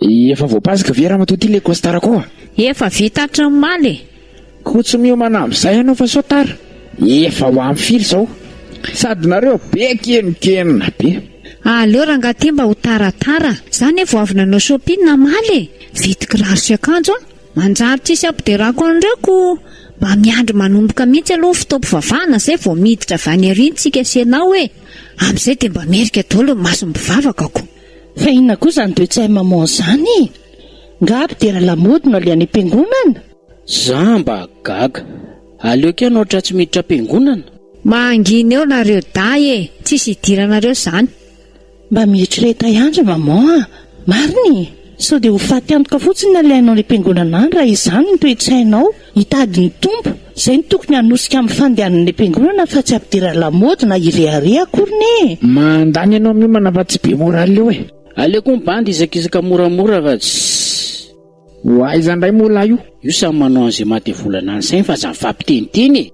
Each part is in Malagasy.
Efa voapasoka ve ramatoa ty le costard ko a? Efa vita hatry ny maly e! Ko tsy miomana amzay ianao fa sao tara? Efa ho any firy zao? Sady nareo be kemokenona be. Aleo rangah ty mba ho taratara. Za ne vao avy nanao shopping namaly e! Vidy kiraro sy akanjo an! Manjary tsisy hampiderako an'ireo ko mba miandry manomboka mihitsy aloha ny fotoam-pivavahana zay vao miditra avy any ariny tsika sy ianao e! Amzay dia mba merika daholo ny mason'ny mpivavaka ko! Fa inona koa izany deuxième maman izany e? Nga aby tena lamaody no alehan'ny am-piangonana? Za mba gaga. Aleoko ianao tra tsy miditra am-piangonana. Mangina eo nareo dahy e! Tsisy idiranareo zany. Mba mieritrereta ihany ry maman a! Marina e! Sao dia ho faty antoka fotsiny ny alehanao any am-piangonana any raha izany no toe-tsainao. Hitady ny Tompo, izay no tokony hanosika amin'ny fandehanan'ny Mpiangonana fa tsy hampidirana lamaody na hirehareha akoriny e! Mandany ianao miomana fa tsy be moral eo e! Aleoko ny bandy hizakizaka moramora fa tsy. Ho aiza ndray moa lahy io? Io samy manao an'izay mahadevolana ny sainy fa aza mifampiteniteny e!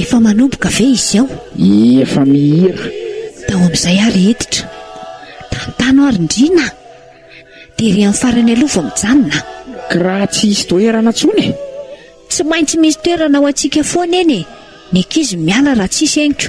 Efa manomboka ve izao? Efa mihira. Tao amin'izay aho ry Editra. Tantano aho ry Ndriana a! Dia ry an'ny farany aloha vao mijanona a! Kiraha tsy hisy toerana intsony e! Tsy maintsy misy toerana ho antsika foana eny e! Ny ankizy miala raha tsisy henoko.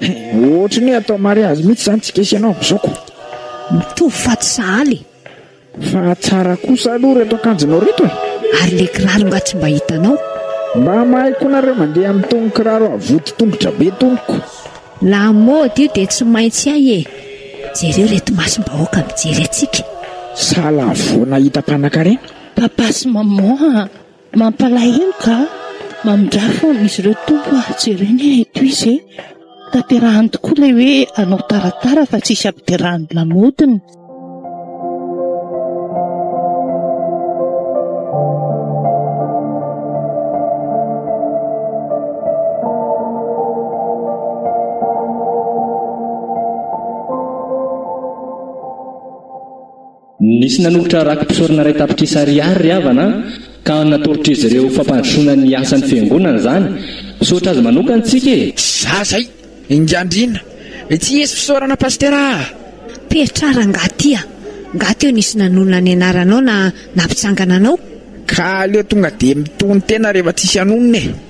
Ohatry ny hoe atao mariazy mihitsy izany tsy kesy ianao amin'izao ko. Mitovy fa tsy sahala e. Fa tsara kosa aloha reto akanjonao reto e. Ary le kiraro nga tsy mba hitanao. Mba mahay koa nareo mandeha amin'itony kiraro avoty tongotra be tony ko. La mode io dia tsy maintsy hay e. Jereo reto masom-bahoaka mijery antsika. Sa la vao nahita mpanakarena. Papa sy maman a! Mampalahelo ka mamindra foana izy ireo Tompo ah, jereny eh eto izy eh, tanterahany tokoa ilay hoe anao taratara fa tsisy ampiderahan'ny lamodiny. Nisy nanolotra raki-pisaorana iray tapitrisa ariary ry havana ka natolotr'izy ireo ho fampandrosoana ny asan'ny Fiangonana izany. Misaotra azy manokana isika e! Za zay! Enga-andriana! Etsy hisy fisaorana Pasitera ah! Pertra rangaha ty a! Nga teo nisy nanonona ny anaranao na nampitsangana anao? Ka aleo tonga dia mitonon-tena rehefa tsisy hanonona e!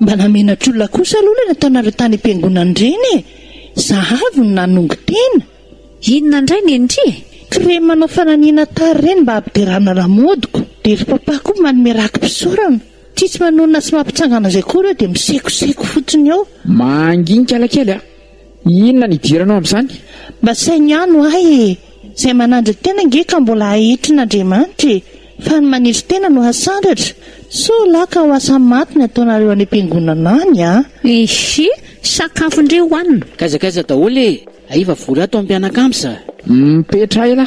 Mba namenatr'olona kosa aloha ilay nataonareo tany am-piangonana ireny e! Zahavo no nanongo tena. Inona indray ny ndry e? Crème manao fananiana tara ireny mba hampiderana lamodiko. Dia ry papa koa manome raki-pisaorana. Tsy tsy manonona sy mampitsangana izay koa ireo dia misekoseko fotsiny eo. Manginika la kely a! Inona ny idiranao amin'izany? Mba saino ihany ho ahy e! Izay manandry tena ange ka mbola ahitrin'Andriamanitra e! Fa ny manetry tena no hasandratra! Soa lahy ka ho asa maty ny ataonareo any am-piangonana any a! Ihi, sakafo ndry hohanina. Kaiza kaiza daholo e! Aiva vory ato am-pianakams a! Mipetraha ela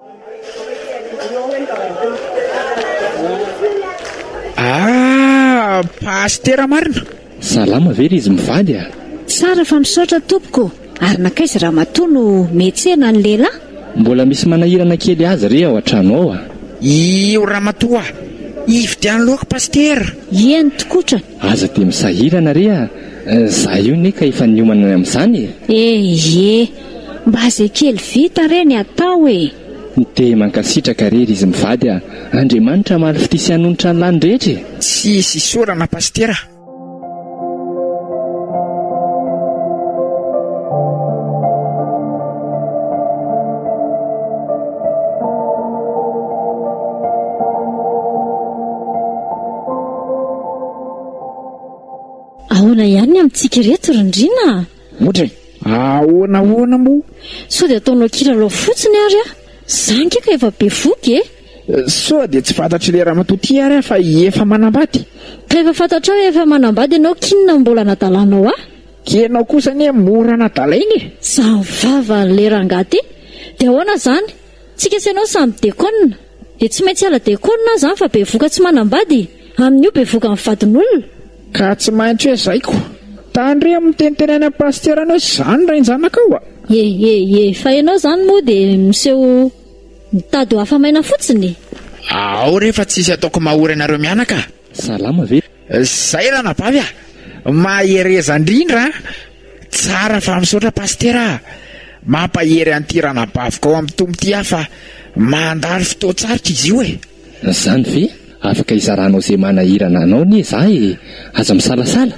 Aah! Pasitera marina? Salama ve ry izy mivady a! Tsara fa misaotra tompoko, ary nankaiza ramatoa no mihetsehana ny lehilahy? Mbola misy manahirana kely azy re ao an-trano ao a! Io ramatoa hividiano laoka pasitera? Ie ny tokotra. Aza dia misahirana re a! Za io ne ka efa niomana ny amin'izany e! Ee! Mba ze kely vita re ny atao e! Dia mankasitraka re ry izy mivady a! Andriamanitra hamaly fitia sy hanonitra ny lany rehetra e! Tsy hisy isaorana Pasitera. Ahoana ihany ny amintsika ireto ry ndrina a? Ohatra e! Ahoana ahoana moa? Sao dia ataonao kilalao fotsiny ary aho? Za nge ka efa bevoky e! Sao dia tsy fantatry le ramatoa ty ary aho fa efa manambady? Ka efa fantatrao hoe efa manambady ianao k'inona no mbola anadalanao ahy? Ka ianao kosa anie mora anadalaina e! Zany vavan'le rangahy ty! Dia ahoana zany? Tsy k'esenao samy dekona? Dia tsy maintsy hiala decool na zany fa bevoka tsy manambady Amin io bevoka ny vadin olona. Ka tsy maintsy hoe zay ko. Tandremo miteniteny any am pasitera any hoe zany rainjanakao a! Eehee fa ianao izany moa dia miseho mitady ho afa-maina fotsiny e! Ao re fa tsisy ataoko mahory anareo mianaka a! Salama ve? Zay ranabavy ah! Mahereza ndrindra an! Tsara fa misaotra Pasitera ah! Mampahery an'ity ranabaviko ao amin'ny Tompo ity aho fa mandalo fotoan-tsarotra izy io e! Zany ve afaka hizaranao ze manahirana anao anie za e! Aza misalasala!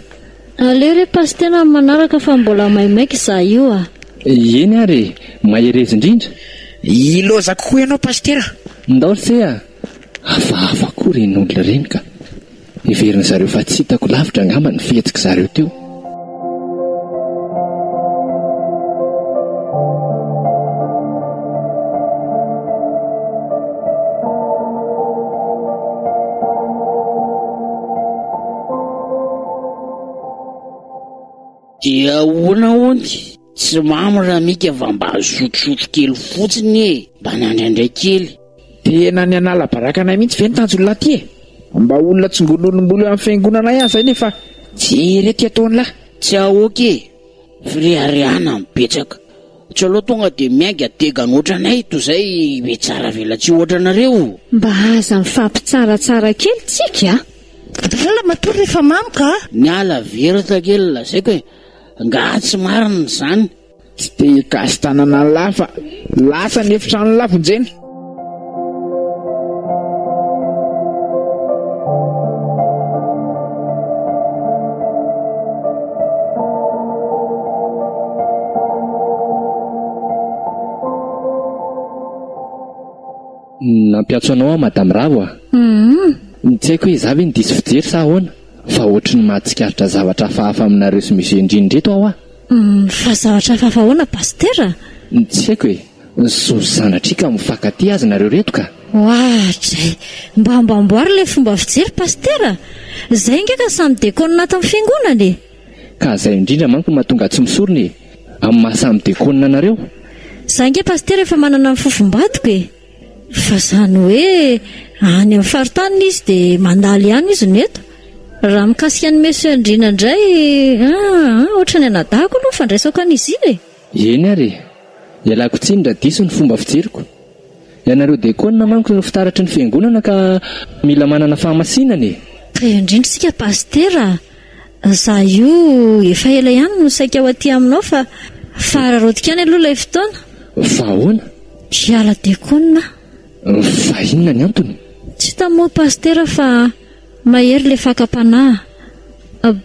Aleo re Pasitera amin'ny manaraka fa mbola maimaika za io ah! Eny ary e! Mahereza indrindra! Hilaozako koa ianao Pasitera! Ndao lse ah! Hafahafa koa ireny olona ireny ka. Heverin'ny zareo fa tsy hitako lavitra angamba ny fihetsik'i zareo teo. Dia ahoana hono? Tsy mamy ra mika fa mba azotrozotro kely fotsiny e! Mba nandraindray kely. Tena ny hanala baraka anay mihitsy ve ny tanjon'lah ty e! Mba olona tsongon'olom-bolo eo amin'ny fiangonana ihany zay nefa jereo ty ataon'lah. Tsy aoka e! Fireharehana no betsaka. Tsy aleo tonga dia miainga degan ohatranay toy izay be tsara velatsihy ohatranareo. Mba aza mifampitsaratsara kely tsika a! Dalina matoa rehefa mamy ka! Niala very takely lazaiko e! Ngaha tsy marina izany? Tsy te hikasy tanana an'lah fa lasa ny efitranon'lah vonjena. Nampiantso anao aho Madame Ravo a! Tsy haiko hoe izaho ve no diso fijery sa ahoana? Fa ohatry ny mahatsikaritra zavatra hafahafa aminareo sy Monsieur Ndrindra eto aho ah! Fa zavatra hafahafa ahoana Pasitera? Tsy haiko e! Zo zanatrika mifankatia azy nareo reto ka! Oah dray! Mba mba amboary ilay fomba fijery Pasitera! Zay nga ka samy dekôna atin'ny fiangonana e! Ka zay indrindra manko no mahatonga tsy misorona e! Amin'ny maha samy dekôna anareo! Za nga Pasitera efa manana ny fofombadiko e! Fa izany hoe any amin'ny faritany izy dia mandalo ihany izy no eto. Raha mikasika an'i Monsieur Andriana indray, ah, ohatra ny anadahako aloha ny fandraisako an'izy iny e! Eny ary e! Ialako tsiny raha diso ny fomba fijeriko. Ianareo dekôna manko no fitaratry ny fiangonana ka mila manana fahamasinana e! Taiza indrindra isika Pasitera a! Za io efa ela ihany no saika ho aty aminao fa fa araraotiko ihany aloha ilay fotoana. Fa ahoana? Hiala diakona aho. Fa inona ny antony? Tsy hita moa Pasitera fa mahery ilay fakam-panahy.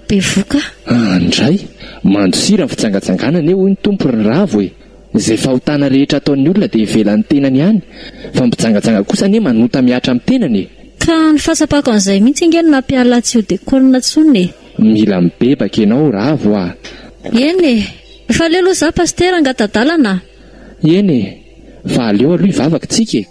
Bevoka. An dray! Mandosira ny fitsangatsanganana e hoy ny Tompo ry Ravo e! Izay fahotana rehetra ataon'ny olona dia ivelan'ny tenany ihany, fa ny mpijangajanga kosa anie manota mihatra amin'ny tenany e! Ka ny fahatsapako an'izay mihitsy ange no nampiala tsy ho decolle intsony e! Mila mibebaka ianao Ravo ah! Eny e! Fa aleo aloha izaho Pasitera angatadalana ah! Eny e! Fa aleo aloha hivavaka isika e!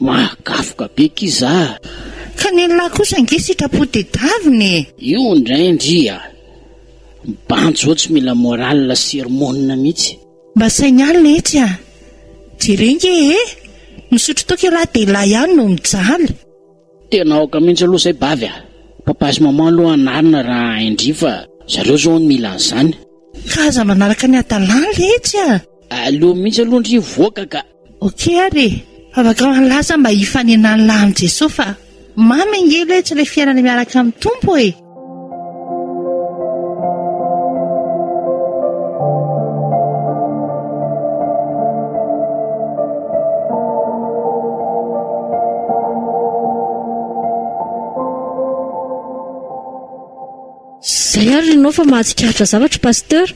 Mahagafoka be ki za a! Fa ny an'lah kosa ange sitrapo tedavina e! Io indray ndry a! Mibanjy eo tsy mila morale sy hormones mihitsy. Mba saigny alina etsy a! Jereo nge e! Misotro toaka ialahy dia ialahy ihany no mijaly. Tena aoka mihitsy aloha zay bavy a! Papa sy maman aloha anarina raha hain-dry fa zareo zao hono mila an'izany. Ka aza manaraka ny hadalana letsy a! Aleo mihitsy aloha ndry hivoaka ka. Ok ary e! Fa vakao any lasa mba hifanenan'ny lahy amin'i Jesoa fa mamy ange ilay tsy ilay fiainana miaraka amin'ny Tompo e! Zay ary ianao fa mahatsikaritra zavatra Pasteur.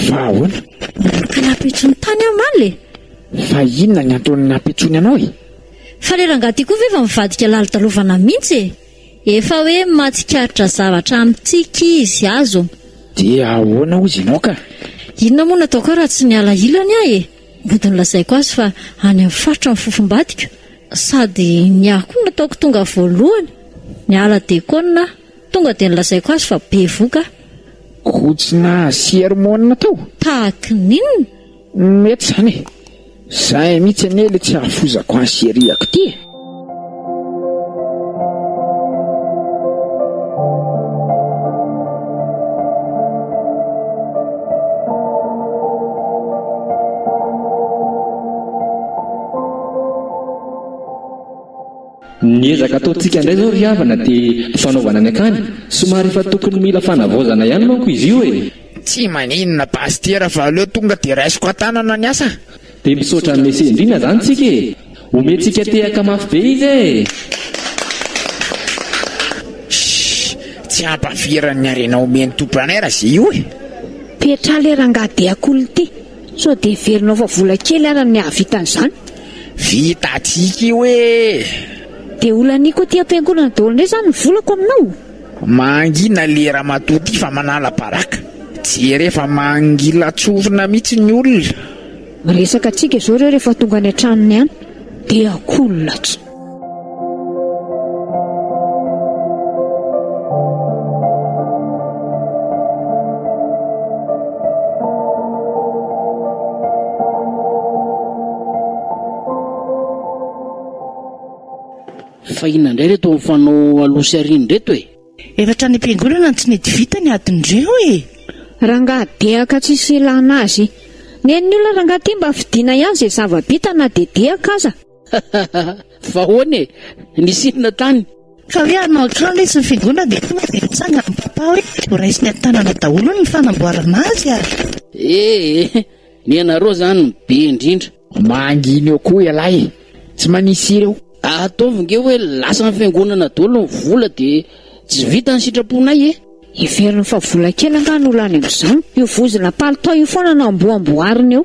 Fa ahoana? Miaraka nampitso ny tany aho omaly e! Fa inona ny antony nampitsoany anao e? Fa le rangahy ty koa ve efa mivadika lalodalovana mintsy e! Efa hoe matsikaritra zavatra amintsika izy, azo. Dia ahoana hozy ianao ka? Inona moa no ataoko aho raha tsy miala ilany aho e! Mody nolazaiko azy fa any amin'ny faritra ny fofombadiko, sady ny ahy koa no ataoko tonga voalohany, miala dekona aho. Tonga dia nolazaiko azy fa bevoka aho. Koa tsy nahasia hormonina tao? Tahaky ny inona? Mety izany e! Izay mihitsy anie ilay tsy hahafozako ahy sy eriako ity e! Ny ezaka ataontsika indray izao ry havana dia fanaovana ny akany, somary efa tokony mila fanavaozana ihany manko izy io e! Tsy maninona Pasitera fa aleo tonga dia raisiko an-tanana ny asa. Dia misaotra an'i Messie indrindra izany tsika e! Omentsika tehaka mafy be izy e! Tsy hampahaviran'ny harena omen'ny Tompo anay raha izay io e! Petra le rangahy dia cool ty. Sao dia heverinao fa vola kely ara ny hahavita an'izany? Vita atsika io ee. Dia olaniko aty ampiangonana daholo indray izany ny volako aminao? Mangina le ramatoa ty fa manala baraka. Jere fa mangila tsorina mitsy ny olona. Miresaka atsika zao reo refa tonga any an-tranony any de akoho ny latsa. Fa inona indray ireto mifanao aloha sy aoriana ireto e? Efa hatrany am-piangonana no tsy nety vita ny adin'ireo e! Rangahy dehaka tsisy ilana azy. Nen'ny olona rangahy ity mba fidina ihany izay zava-bita na dia dehaka aza. Vahoana e! Nisy inona tany? Fa hoe hanao akanjo izy ny figonany dia tonga dia nitsangana ny papa hoe ho raisiny an-tanana daholo ny fanamboarana azy ary. Ee, ny anareo izany no be indrindra. Mangina eo koa ialahy e! Tsy manisy hira eo. Ataovy nge hoe lasan'ny fiangonana daholo ny vola dia tsy vita ny sitraponay e! Heveriny fa vola kely angaha no lany amin'izany? Io vozona palitao io foana no amboamboariny eo.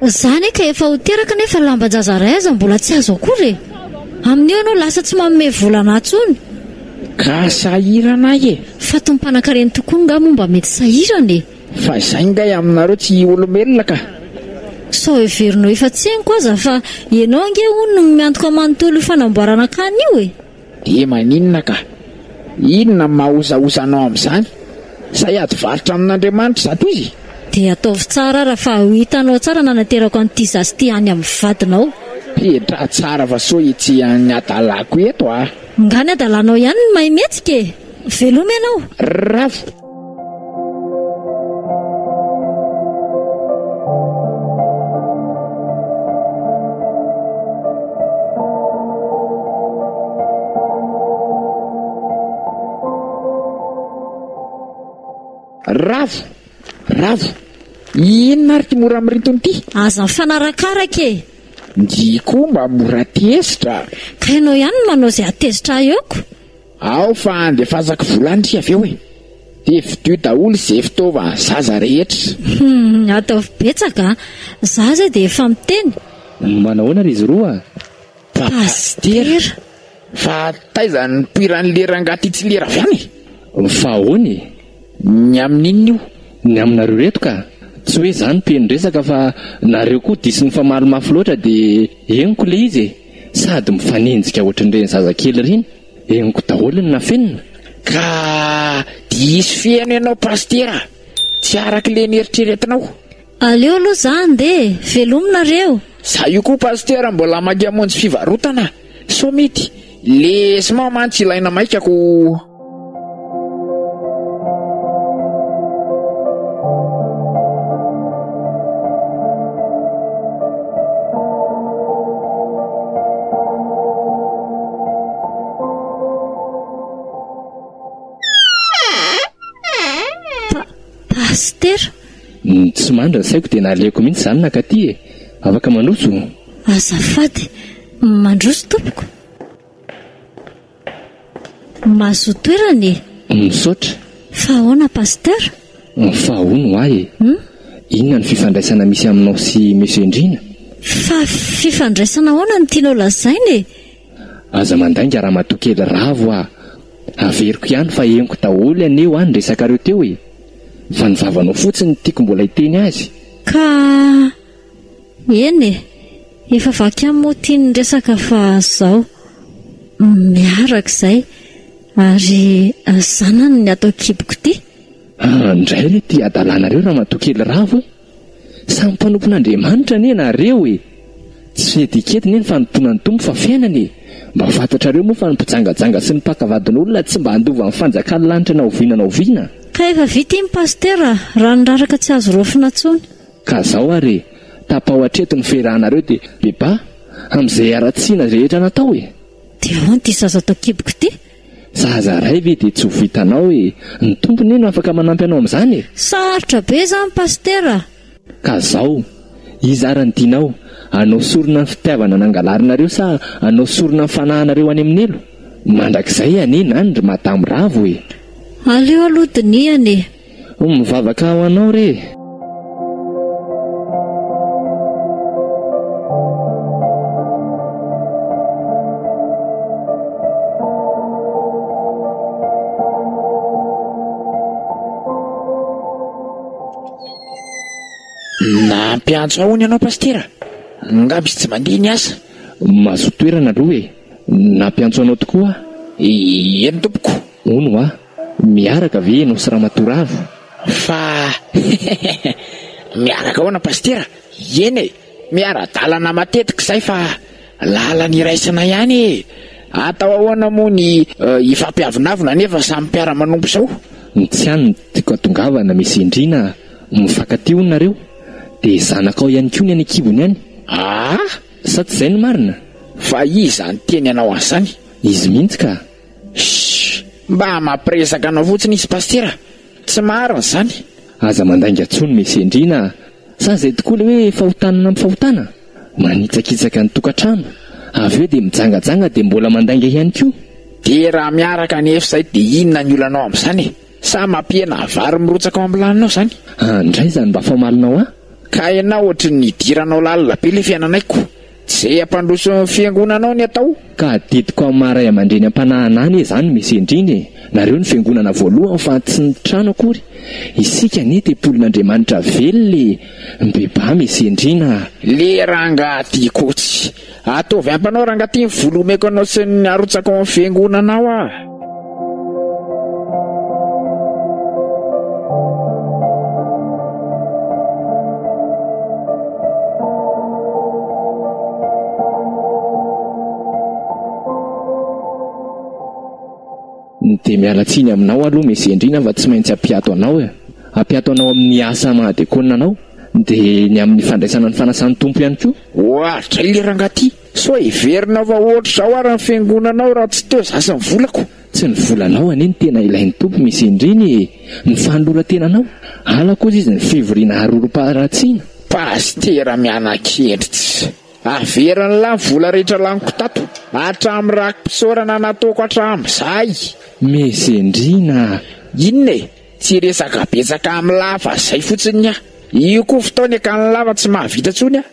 Za anie ka efa ho teraka nefa lamban-jaza ray aza mbola tsy azo akory e! Amin'io ianao lasa tsy manome vola anah tsony. Ka sahirana ahy e! Fatin'ny mpanankareny tokoa ngah moa mba mety sahirana e! Fa izay ngay aminareo tsy olombelona ka! Sao heverinao efa tseniko aza fa ianao ange hono no miantoka manontolo io fanamboarana akany io e! Dia maninona ka? Inona no mahaozaoza anao amin'izany? Sa hiady varotra amin'Andriamanitra zato izy? Dia ataovy tsara ary fa ho hitanao tsara nanaterako an'ity zaza ity any amin'ny vadinao. Petraha tsara fa sao etsy ny hadalako eto a! Nga ny hadalanao ihany no mahay mihetsika e! Veloma ianao! Rravo! Ravo! Ravo! Inona ary ity mora mirinto ity? Aza mifanarakaraka e! Ndry koa mba mora tezitra! Ka ianao ihany no manao izay hatezitra ahy eo ko! Ao fa andefasako vola ndry avy eo e! Dia vidio daholo izay fitaova zaza rehetra. Humm ataovy betsaka a! Za izay dia efa miteny. Manahoana ry izy roa? Pasitera. Fa taiza no nipoiran'i le rangahy ty tsy lera avy any e? Fa ahoana e? Ny amin'inona io? Ny aminareo reto ka! Tsy hoe za no mpiheno resaka fa nareo koa diso nifamaly mafy loatra dia henoko le izy e! Sady mifanenjika ohatrin'ireny zazakely ireny, henoko daholo ny nafenina. Ka diso feno ianao Pasitera a! Tsy araka ilay nieritreretinao. Aleo aloha za handeha e! Velomy nareo! Za io koa Pasitera mbola maika hamonjy fivarotana sao mety lesy mao mantsy ilaina maika ko! tsy mandra ny saiko dia naleoko mihitsy izany nakaty e afaka mandroso azafady mandroso tompoko Mahazoa toerana e! Misaotra. Fa ahoana Pasteur? Fa ahoana ho ahy e? Inona no fifandraisana misy aminao sy Monsieur Ndriana? Fa fifandraisana ahoana no tianao lazaina e? Aza mandainga ramatoa kely ravo ah! Averiko ihany fa henoko daholo anie hoa ny resakareo teo e! Fa ny vavanao fotsiny no tiako mbola hiteny azy. Ka. Eny e! Efa vaky ihany moa ity ny resaka fa izao, miaraka izay ary zanany ny ato an-kiboko ity. An ndray re ty adalanareo ramatoa kely ravo e! Samy mpanompon'Andriamanitra anie nareo e! Tsy fihedikedy anie ny fanompoana ny Tompo fa fiainana e! Mba fantatrareo moa fa ny mpijangajanga sy ny mpaka vadin'olona tsy mba handova ny fanjakan'ny lanitra na oviana na oviana? Ka efa vita iny Pasitera raha niraraka tsy azo raofina tsony. Ka zao ary e! Tapao hatreto ny firahanareo de beba amin'izay haratsiana rehetra natao e! De ahoana ty zaza tao kiboko ty? Zaza ray ve de tsy ho vitanao e! Ny Tompo ne no afaka manampy anao amin'izany e! Sarotra be izany Pasitera a! Ka zao, iza ary ny tianao, anao sorona ny fitiavana nangalarinareo sa anao sorona ny fanahanareo any amin'ny Nilo? Mandrakizay anie na ny ry Madame Ravo e! Aleo aloha dinihana e! Ho mivavaka ho anao re e. Nampiantso ahoana ianao Pasitera? Angamba izy tsy mandeha ny asa. Mazotoa toerana aloha e. Nampiantso anao tokoa aho. Eny tompoko. Hono hoa. Miaraka ve enao sy ramatoa ravo fa miaraka ahoana pasitera eny e miara dalana matetika izay fa lalana iraisana ihany e atao ahoana moa ny hifampiavonavona nefa samy mpiara manompo sao ny tsy any ny tiako atongavana misy endrina mifankatia hono nareo dia zanakao ihany koa ny any ankibony any aa sa tsy izay no marina fa iza niteny anao an'izany? Izy mihitsy ka! Shhh! Mba mampiresaka anao fotsiny izy Pasitera a! Tsy marina izany! Aza mandainga tsony me Sendrina a! Sa izay tokoa le hoe fahotana nampy fahotana? Manitsakitsaka ny tokantrano, avy eo dia mijangajanga dia mbola mandainga ihany koa! Dia raha miaraka anefa izay dia inona ny olanao amin'izany e? Sa mampihena vary mirotsaka ao amin'ny laninao izany? An! Ndray izany mba famalinao ahy? Ka ianao ohatry ny nidiranao lalina be le fiainanay ko! Ze ampandroso ny fiangonanao ny atao. Ka adidiko am maha ray amandreny ampanahana anie zany mesi indrindra e nareo ny fiangonana voalohany fa tsy ny trano akory isika anie tempolin Andriamanitra velona e mbebaa mesi indrina a. Le rangaha ty koa tsy. Ataovy ampanao rangaha ty ny volo omeko anao sy ny arotsako am fiangonanao a. dia miala tsiny aminao aloha Mesy Endrina fa tsy maintsy hampiato anao e. Hampiato anao amin'ny asa maha-dekona anao dia ny amin'ny fandraisana ny fanasan'ny Tompo ihany koa. Oa, zay le rangah ty. Sao hiverina fa ohatr zao ary ny fiangonana ao raha tsy teo za sy ny volako. Tsy ny volanao anie no tena ilain'ny Tompo Misy indriny e! Ny fanoloran-tenanao! Ala kosa izy ny fivoriana harorom-paharatsiana! Pasitera miana-kendritsy. Averiny lah ny vola rehetra laniko tato. Hatramin'ny raki-pisaorana nataoko hatramin'izay. Mezendrina a! Inona e? Tsy resaka betsaka amin'ny lahy fa zay fotsiny ny ahy. Io koa fotoana e ka ny lahy fa tsy mahavita intsony aho.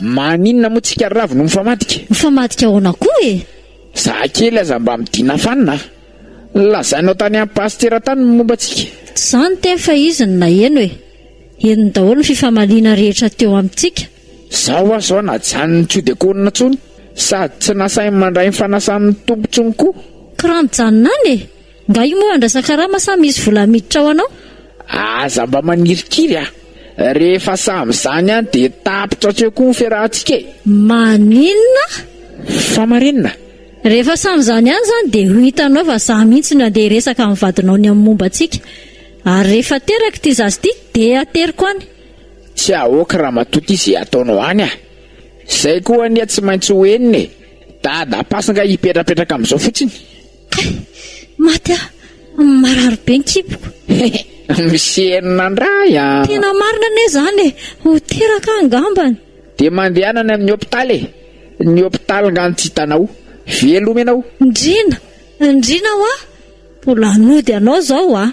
Maninona moa tsika ravo no mifamadika? Mifamadika ahoana koa e? Za kely aza mba midina fanina a! Lazainao tany am pasitera tany ny momba antsika. Tsy za niteny fa izy no naheno e! Henony daholo ny fifamaliana rehetra teo amintsika. Za hoa zao najanony tsy ho dekonina tsony sady tsy nasainy mandray ny fanasan'ny Tompo tsony koa. Kran janona any e! Nga io moa andrasakarama sa misy vola miditra ao anao? Aza mba manirikiry a! Rehefa samy zany any de tapitra hatreo koa ny fiarahantsika e! Maninona? Fa marenina? Rehefa samy zany any zany de ho hitanao fa za mihitsy no andeha hiresaka amin'ny vadinao ny amin'ny momba antsika. Ary rehefa aterako ity zaza ity de ateriko any. Tsy ahoako ramatoa ity ze ataonao any a! Zay koa anie tsy maintsy ho henony e! Dada pas nga hipetrapetraka amin'izao fotsiny? Kay! Maty aho! Marary be ny kiboko! He! Misy enina indray an! Tena marina anie izany e! Ho teraka aho angambany! Dia mandehana any amin'ny hopitaly e! Ny hopitaly nga no tsy hitanao! Veloma ianao! Ndriana! Ndriana hoa! Mbola hanody anao izao hoa!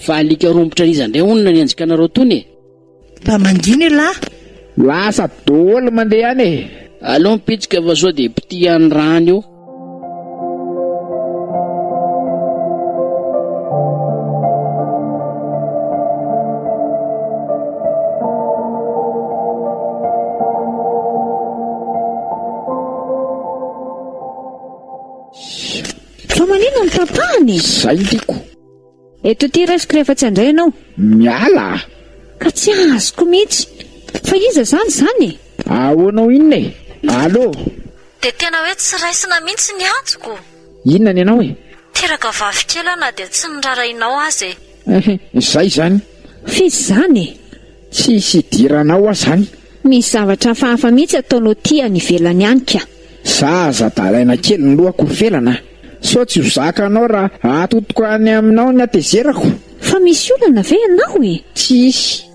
Fa alika rompotra an'iza indray hono ny anenjikanareo tony e? Mba mangina elah! Lasa doly mandeha any e! Aleo mipitsika fa sao dia potihan ny rano eo. Fa maninona no tapahany e? Zay ny tiako. Eto ity raisiko rehefa tsy handray ianao. Miala a! Ka tsy azoko mihitsy. Fa iza izany izany e? Ahoana ho inona e? Allo! Dia tena hoe tsy raisina mihitsy ny antoko. Inona ny anao e? Teraka vavy kely aho na dia tsy nirarahinao aza e. Ehh, izay izany. F'iza izany e? Tsy hisy hidirana ao aho zany. Misy zavatra hafahafa mihitsy ataonao aty any ivelany any ka. Za aza dalaina kely ny lohako ho felana a! Sao tsy ho zakanao raha atotoko any aminao ny hatezerako? Fa misy olana ve ianao e? Tsy hisy.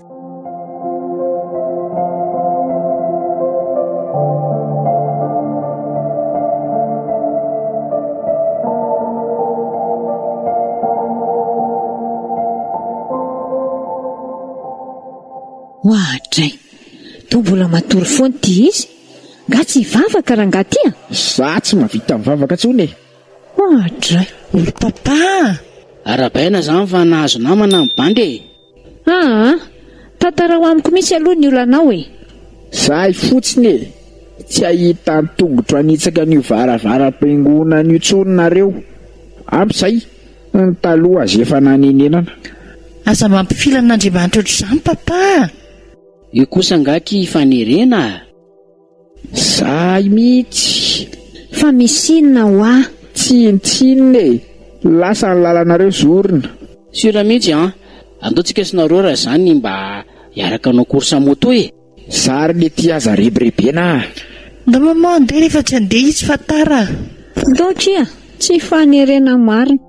Oadray! Toa mbola matory foana ity izy. Nga tsy hivavaka rangaha ty a! Za tsy mahavita mivavaka intsony e! Oadray! Ry Papa a! Arabaina izany fa nahazo namana ny bandy e! Aa! Tantarao amiko mihitsy aloha ny olanao e! Zahay fotsiny e! Tsy hahita an-tongotro hanitsaka an'io varavaram-piangonana io intsony nareo! Ampy izay! Ny taloha aza efa nanenenana. Aza mampifila an'Andriamanitra ohatr'izany papa a! Io kosa angaha ki fanerena a! Zahay mihitsy! Fa misy inona ho'a? Tsin tsin e! Lasa ny lalanareo zorona! Sur mihitsy an! Andao tsika sy nareo raha izany mba hiaraka hanao course moto e! Za ary le ty aza rebirebena ah. Nga maman andeha rehefa tsy andeha izy fa tara ah. Ndao tsia, tsy fanerena marina.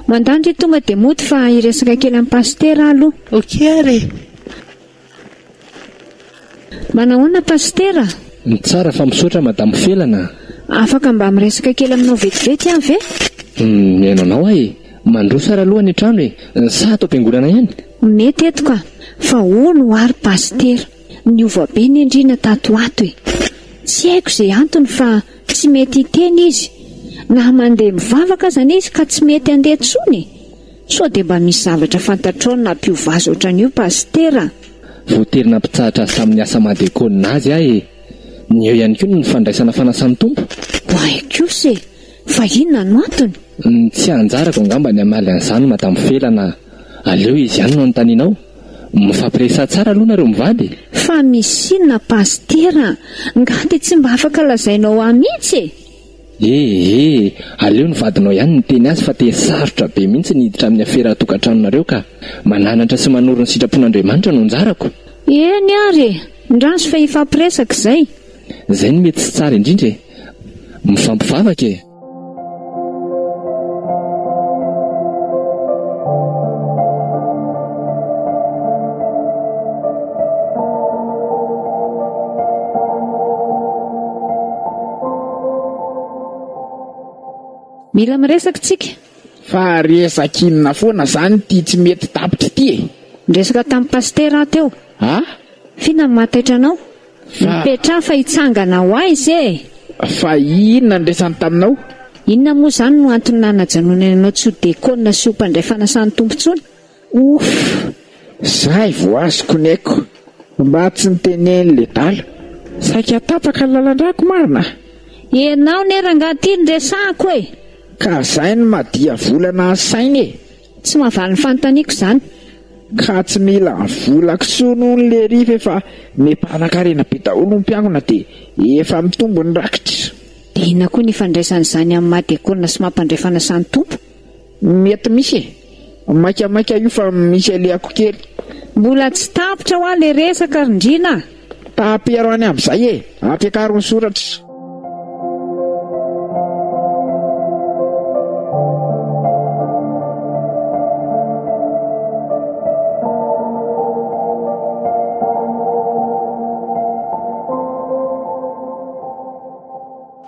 Mandà ndry tonga dia mody fa hiresaka kely an'i Pasitera aho aloha. Ok ary e. Manahoana Pasitera? Ny tsara fa misaotra Madame Felana a! Afaka mba miresaka kely aminao vetivety aho ve? Hum, mihaino anao aho e! Mandroso ary aloha ny trano e! Sa ato am-piangonana ihany? Mety eto ka! Fa hono hoa ry Pasitera, niova be ny andriana tato ho ato e! Tsy haiko izay antony fa tsy mety hiteny izy, na mandeha mivavaka azany izy ka tsy mety handeha intsony e! Sao dia mba misy zavatra fantatrao nampiova azy ohatran'io Pasitera? Voatery nampitsahatra azy tamin'ny asa maha diakônina azy aho e! Nieo ihany koa ny fandraisana fanasan'ny Tompo. Oay kosa e! Fa inona no antony? Ny tsy anjarako angamba ny hamaly an'izany Madame Felana a! Aleo izy ihany no anontanianao. Mifampiresaha tsara aloha nareo mivady e! Fa misy inona Pasitera? Nga dia tsy mba afaka lazainao ahy mihitsy e! E! E! Aleo ny vadinao ihany miteny azy fa tena sarotra be mihitsy ny hiditra amin'ny afera tokantranonareo ka! Mananatra sy manoro ny sitrapon'Andriamanitra no anjarako! Eny ary e! Ndraso fa hifampiresaka izay! Izay no mety sy tsara indrindra e! Mifampivavaka e! Mila miresaka tsika. Fa resak inona foana zany ity tsy mety tapitra ity e. Niresaka tamin'i Pasitera aho teo. Ah? F'inona no maha taitra anao? Fa. Mipetraha fa hitsangana ho aiza e! Fa inona no resany taminao? Inona moa izany no antony nanajanonany anao tsy ho dekona sy ho mpandray fanasan'ny Tompo intsony? Ouff! Zay vao azoko ny aiko. Mba tsy niteneny le dala. Saika tapaka ny lalan-drako marina a! Enao ne rangah ty ny resahako e! Ka zay ny maha diavolana an saina e! Tsy mahavaly ny fanontaniako zany. Ka tsy mila vola ksoa no ny lery f'efa mipanan-karena be daholo ny mpiangona de efa mitombo ny rakitra. De inona koa ny ifandraisan'izany amin'ny maha diakona sy maha mpandray fanasan'ny Tompo? Mety misy e! Maika maika io fa misy alehako kely. Mbola tsy tapitra hoa le resaka ry ndrina a! Tapero any aby zay e! Ampiakaro ny soratra.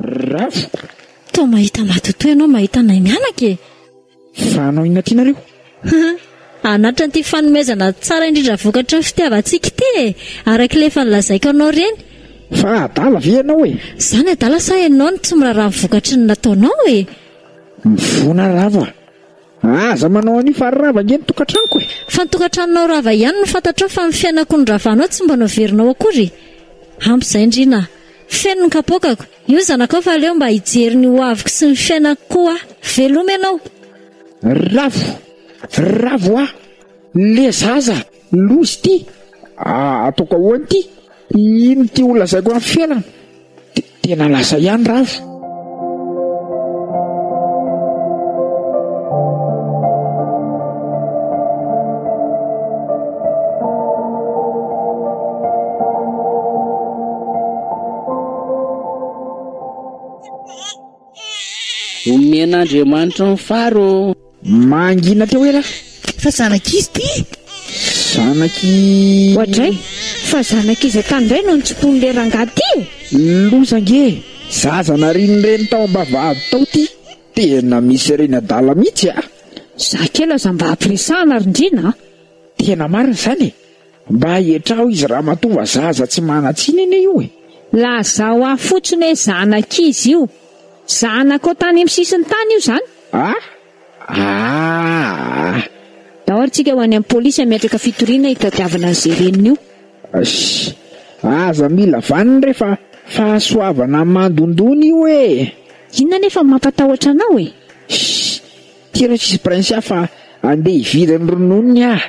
Rafo. Toa mahita matotoa ianao mahita anay mianaka e! Fa hanao inona aty nareo? Anatran'ity fanomezana tsara indrindra vokatry ny fitiavantsika ity e! Araka ilay efa nolazaiko anao ireny. Fa adala ve ianao e? Izany adala sa ianao no tsy miraharaha ny vokatry ny nataonao e? Mivona Rava a! Aza manao an'io fa rava ange ny tokantranoko e! Fa ny tokantranonao rava ihany no fantatrao fa ny fiainako noravanao tsy mba noverinao akory? Ampy izay ndry na! Feno ny kapoakako! Io zanakao fa aleo mba hijery ny hoaviko sy ny fiainako koa aho. Veloma ianao. Ravo! Ravo ah! Le zaza lozy ty ah ataoko ahoana ity? Ino ty ho lazaiko amin'ny fiainana? Tena lasa ihany Ravo. Omen'Andriamanitra ny fary ô! Mangina teo ela fa zanak'izy ty e! Zanaky. Oadray, fa zanak'iza tany ndray no nitsipon'le rangahy ty e! Loza ange, zaza narian'ny reny tao ambavahady tao ty, tena misy reny adala mitsy a! Za kely aza mba ampiresahana ry ndrina a! Tena marina izany e! Mba etraho izy ramatoa fa zaza tsy manan-tsiny anie io e! Lazao ahy fotsiny hoe zanak'iza io? Zanakao tany amin'ny sisin-tany io zany? Ah! Aah! Daory tsika ho any amin'ny polisy hametraka fitoriana hitadiavana an'izay reniny io. Shh! Aza mila vaniny re fa fahasoavana mandondona io e! Inona anefa no mampatahotra anao e? Shh! Ty aloha tsisy prince ahy fa andeha hividy ny rononony aho.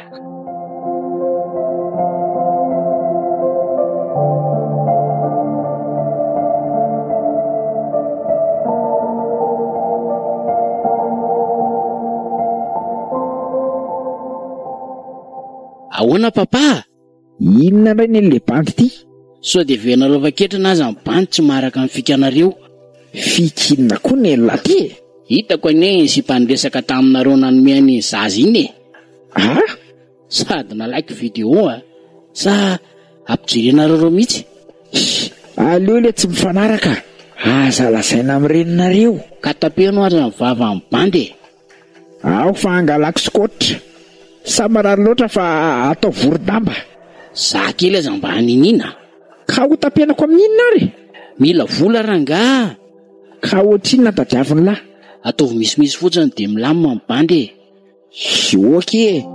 Ahoana Papa a! Inona ndray neny le bandy ity? Sao dia venareo efa ketrina aza ny bandy tsy maharaka ny fikanareo. Fika inona koa neny lahy ty e? Hitako anie iny sipa niresaka taminareo nanome an'iny zaza iny e! Aa? Sady nalaiky video a! Sa ampijerenareo ireo mihitsy? Hii, aleo le tsy mifanaraka, aza lazaina amin'ireny nareo. Ka tapeno ary ny vavan'ny bandy e! Aho fa hangalako skoatra. Sa marary loatra fa atao vorodamba? Za kely aza mba haniniana. Ka ho tapenako amin'inona ary? Mila vola rangaha! Ka ohatrinona tadiavin'lah? Ataovy misimisy fotsiny dia milamina ny bandy e! Ok e!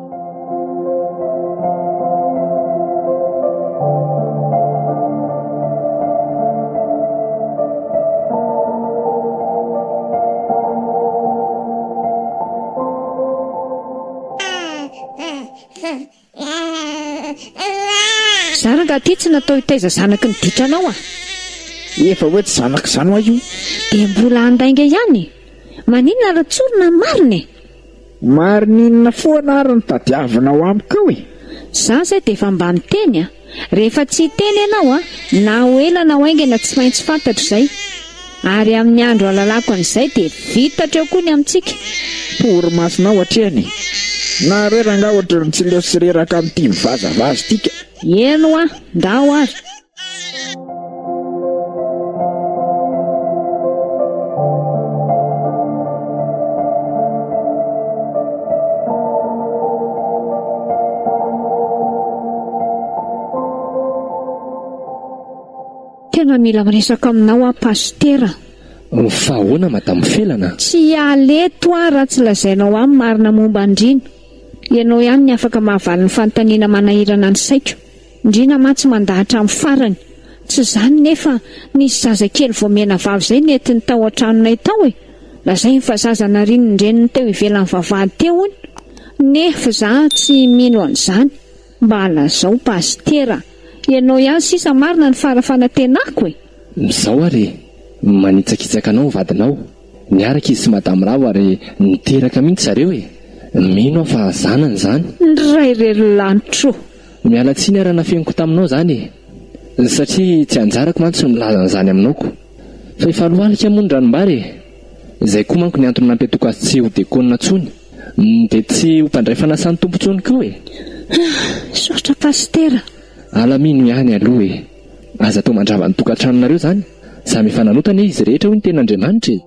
Za rangah ty tsy natao hitaiza zanaky ny ditranao a! Efa hoe tsy zanak'izany hoa io. Dia mbola handainga ihany e! Maninona ary tsorina ny marina e! Marinina foana ary ny tadiavina ao amiko ao e! Za zay de efa mba niteny a! Rehefa tsy hiteny ianao a, na ho ela na ho haingana tsy maintsy fantatro izay! Ary amin'ny andro halalako an'izay de vita hatreo koa ny amintsika! Torimasonao hatrehana e! Naharera angaha ohatran'ny tsy leo sy reraka amin'ity mivazavaza ity ka! Eny hoa, ndao ary! Tena mila miresaka aminao aho pasitera. Fa ahoana madame Felana? Tsy hiala eto aho raha tsy lazainao ahy ny marina momba an-dRino. Ianao ihany ny afaka mahavaly ny fanontaniana manahirana ny saiko. Ndrina mantsy mandà hatramin'ny farany. Tsy izany nefa nisy zazakely vao menavavy izay nentiny tao an-tranonay tao e! Lazainy fa zaza narian'ny reniny teo ivelan'ny vavahady teo hono. Nef za tsy mino an'izany. Mba lazao pasitera. Ianao ihany sisa marina ny fara fanatenako e! Mizao ary e! Manitsakitsaka anao ny vadinao. Niaraka izy sy madame ravo ary niteraka mihitsy zareo e! Mino aho fa zanany izany. Ndray re ry lanitro. Miala tsiny ara nafeniko taminao zany e! satria tsy anjarako mantsy ny milaza an'izany aminao ko! Fa efa lohalika moa ny ranombary e! Zay koa manko ny antony nampiatoako azy tsy ho dekona tsony de tsy ho mpandray fanasan'ny Tompo tsony ko e! Misaotra Pasitera. Alamino ihany aloha e! Aza atao mandrava ny tokantranonareo zany! Samy efa nanota anie izy rehetra hoy ny tenin'Andriamanitra e!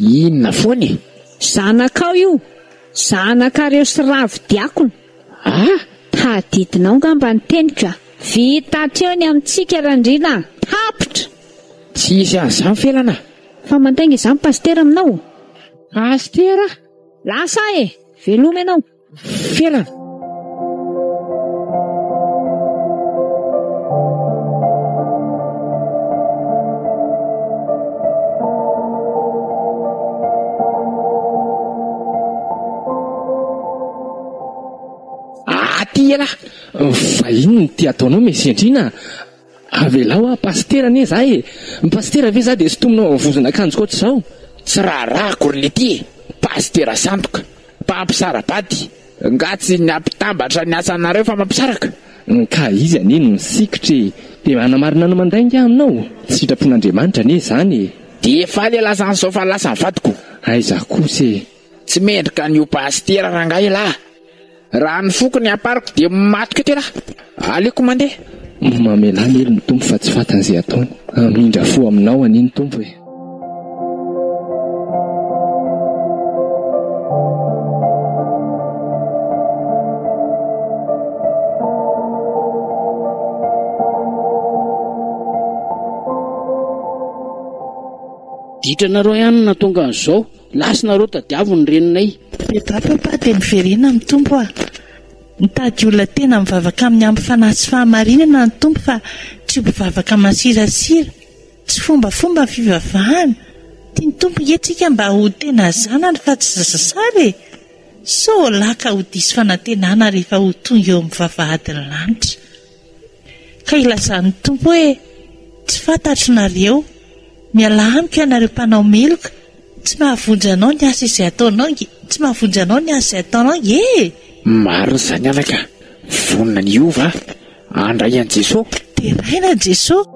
Inona foana e? Zanakao io! Zanakareo sy Ravo diakona! Ah! Taditinao ngamba ny teniko a! Vita hatreo ny amintsika Randriana a! Tapitra! Tsy hisy an'izany felana a! Fa mandainga izany Pasitera aminao? Pasitera? Lasa aho e! Veloma ianao! fiainana. Aty ialahy, vahiny ny tia ataonao Mesy Andriana a! Avelao aho pasitera anie za e! Ny pasitera ve za dia sintomina ao amin'ny vozon'akanjoko ao tsy zao? Tsy raharahako ry lety e! Pasitera sandoka! Mpampisara-bady! Nga tsy ny hampitambatra ny asanareo fa mampisaraka? Nka izy anie no nisikitra e! Dia hanamarina ny mandainga aho aminao? Tsy sitrapon'Andriamanitra anie izany e! Dia faly e lasan'izao fa lasan'ny vadiko! Aiza kosa e! Tsy mendrika an'io pasitera rangahy lahy. Raha ny foko ny ampariko dia maty koa tena. Aleoko mandeha. Mamelà mely ny Tompo fa tsy fatany ze ataony. Hamindra fo aminao anie ny Tompo e. Ditranareo ihany no nahatonga an'izao. Last nareo tadiavo ny reninay. Reto avy Papa dia miverena amin'ny Tompo ah. Mitady olona tena mivavaka aminy amin'ny fanahy sy fahamarinana ny Tompo fa tsy mpivavaka masirasira. Tsy fombafomba ny fivavahana. Tia ny Tompo nge tsika mba ho tena zanany fa tsy zazasara e. Sao laka ho diso fanantenana rehefa ho tonga eo amin'ny vavahadin'ny lanitra. Ka ilazan'ny Tompo hoe, Tsy fantatro nareo, mialà amiko ianareo mpanao meloka, tsy mahavonjy anao ny asa izay ataonao nge, tsy mahavonjy anao ny asa izay ataonao nge e! Marina izany anaka, vonona ny hiova aho, handray an'i Jesoa. Deraina an'i Jesoa.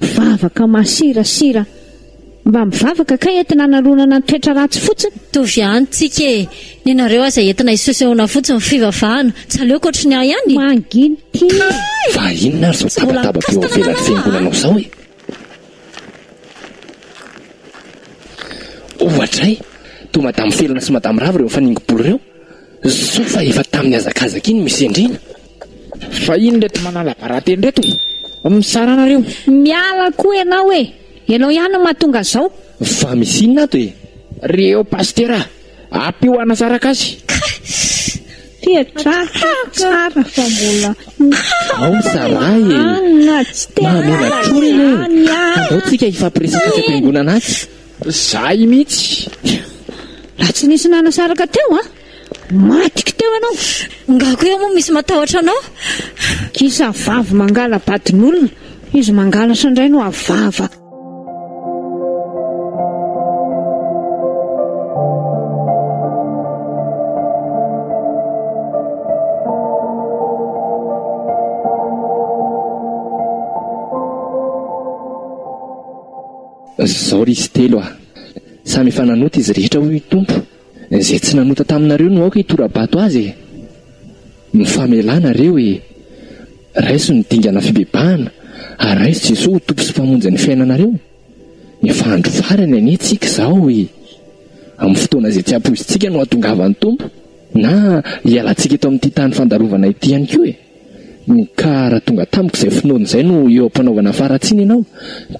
Mpivavaka masirasira mba mivavaka kay entina hanaronana ny toetra ratsy fotsiny. Mitovy ihany tsika e! Ny nareo aza entina hisosehona fotsiny ny fivavahana. Tsy aleoko ohatry ny ahy ihany e! Manginy ty! Fa inona ary zao tabataba be eo ivelan'ny fiangonanao zao e? Ohatra e! Toa madame felona sy madame rava ireo mifaningo-bolo ireo. Soa fa efa tamin'ny hazakazaka iny misy endrena. Vahiny reto manala barateny reto e! Mizara anareo. Miala koa ianao e! Ianao ihany no mahatonga zao. Fa misy inona ato e? Ry eo Pasitera a! Ampio hanasaraka azy. Tia drafitra tsara fa mbola Ao ny zalahy e! Anona tsy te Mahamela tory anie e! Andao tsika hifampiresaka aty am-piangonana aty. Zahay mihitsy. Raha tsy nisy nanasaraka teo an! Maty teo ianao. Ngah ko eo moa misy matahotra anao. Kisa vavy mangala badin'olona, izy mangalatra indray no avava. Zao ry izy telo a! Samy efa nanota izy rehetra hoy ny Tompo. Izay tsy nanota taminareo no aoka hitora-bato azy e! Ny famelana re hoe, Raiso ny dingana fibebahana ary raiso Jesoa ho Tompo sy Mpamonjin'ny fiainanareo! Efa andro farany anie tsika izao e! Amin'ny fotoana izay tsy ampoizintsika no hahatongavan'ny Tompo na hialantsika eto amin'ity tany fandalovana ity ihany koa e! Ny kara tonga tamiko izay finoany izay no eo am-panaovana faharatsiana ianao,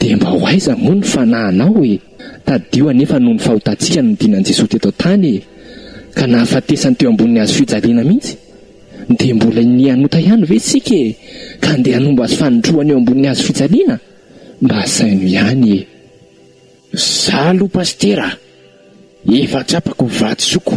dia mba ho aiza moa ny fanahinao e? Tadidio anefa noho ny fahotantsika no nidinan'i Jesoa teto an-tany e! Ka nahafatesany teo ambonin'ny hazo fijaliana mihitsy. Dia mbola iniha hanota ihany ve isika e? Ka handeha hanombo azy fanindroany eo ambonin'ny hazo fijaliana? Mba asaino ihany e! Za aloha Pasitera a! Efa tsapako ny vatosoako.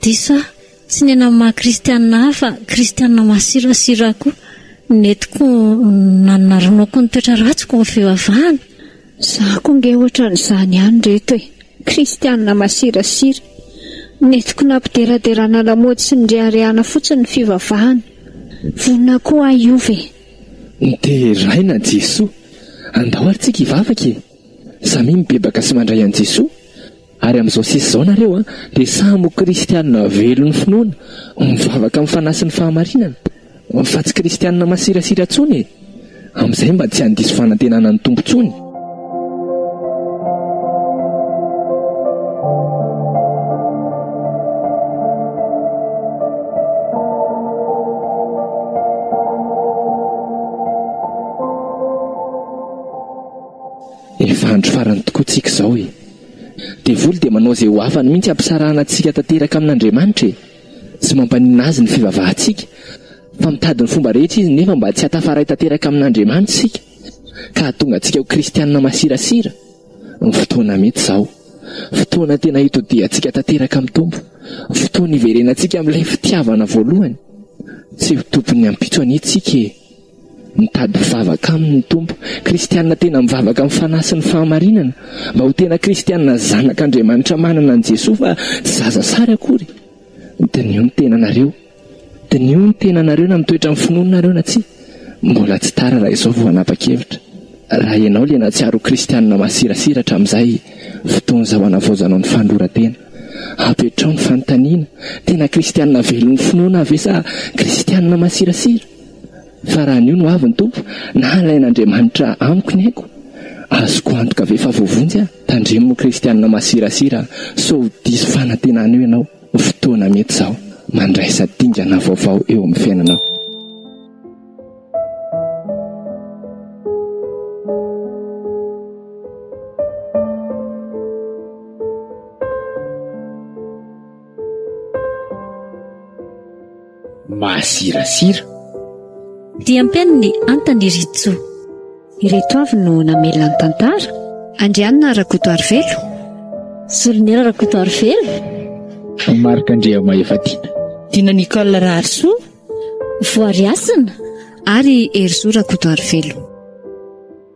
Diso aho, tsy ny anan'ny maha kristianina ahy fa kristianina masirasira aho koa nety koa nanana ronoakony toetra ratsiko ny fivavahana. Za koa nge ohatran'izany ihany reto e! Kristianina masirasira, nety koa nampideraderana lamaody sy nireharehana fotsiny ny fivavahana. Vonona koa aho hiova e! Deraina Jesoa! Andao ary tsika hivavaka e! Samia mibebaka sy mandray an'i Jesoa! Ary amin'izao sisa izao nareo dia samy ho kristianina velon'ny finoana, mivavaka amin'ny fanahy sy ny fahamarinana, fa tsy kristianina masirasira intsony e! Amin'izay mba tsy handiso fanantenana ny Tompo intsony. Efa andro farany tokoa tsika izao e! Devoly dia manao izay ho afany mihitsy hampisarahana antsika tanteraka amin'Andriamanitra e! Tsy mampaninona Azy ny fivavahantsika, fa mitady ny fomba rehetra Izy nefa mba tsy hatafaray tanteraka amin'Andriamanitra isika ka hahatonga antsika ho kristianina masirasira. Ny fotoana mety izao. Fotoana tena hitodihantsika tanteraka amin'ny Tompo. Fotoana hiverenantsika amin'ilay fitiavana voalohany. Tsy ho tompon'ny ampitso anie tsika e! Mitady mpivavaka aminy ny Tompo. Kristiana tena mivavaka amin'ny Fanahy sy ny fahamarinana, mba ho tena kristiana zanak' Andriamanitra manana an'i Jesoa fa tsy zaza sary akory. Diniho ny tenanareo. Diniho ny tenanareo na mitoetra amin'ny finoana nareo na tsia. Mbola tsy tara raha izao vao hanapa-kevitra. Raha ianao ilay nahatsiaro ho kristiana masirasira hatramin'izay, fotoana izao hanavaozanao ny fanoloran-tena. Apetraho ny fanontaniana, tena kristiana velon'ny finoana aho ve sa kristiana masirasira? Fa raha anio no avy ny Tompo, na halain'Andriamanitra amiko ny aiko, azoko antoka ve fa voavonjy aho? Tandremo kristianina masirasira sao ho diso fanantenana eo ianao ny fotoana mety izao mandraisa dingana vaovao eo amin'ny fiainanao. Masirasira. Dia ampiany ny antan i Ritso. Ireto avy no namelona ny tantara. Andrianina Rakotoarivelo. Soloniera Rakotoarivelo. Marc Andriamahefatiana. Dina Nicole Raharisoa. Voariasina. Ary Herisoa Rakotoarivelo.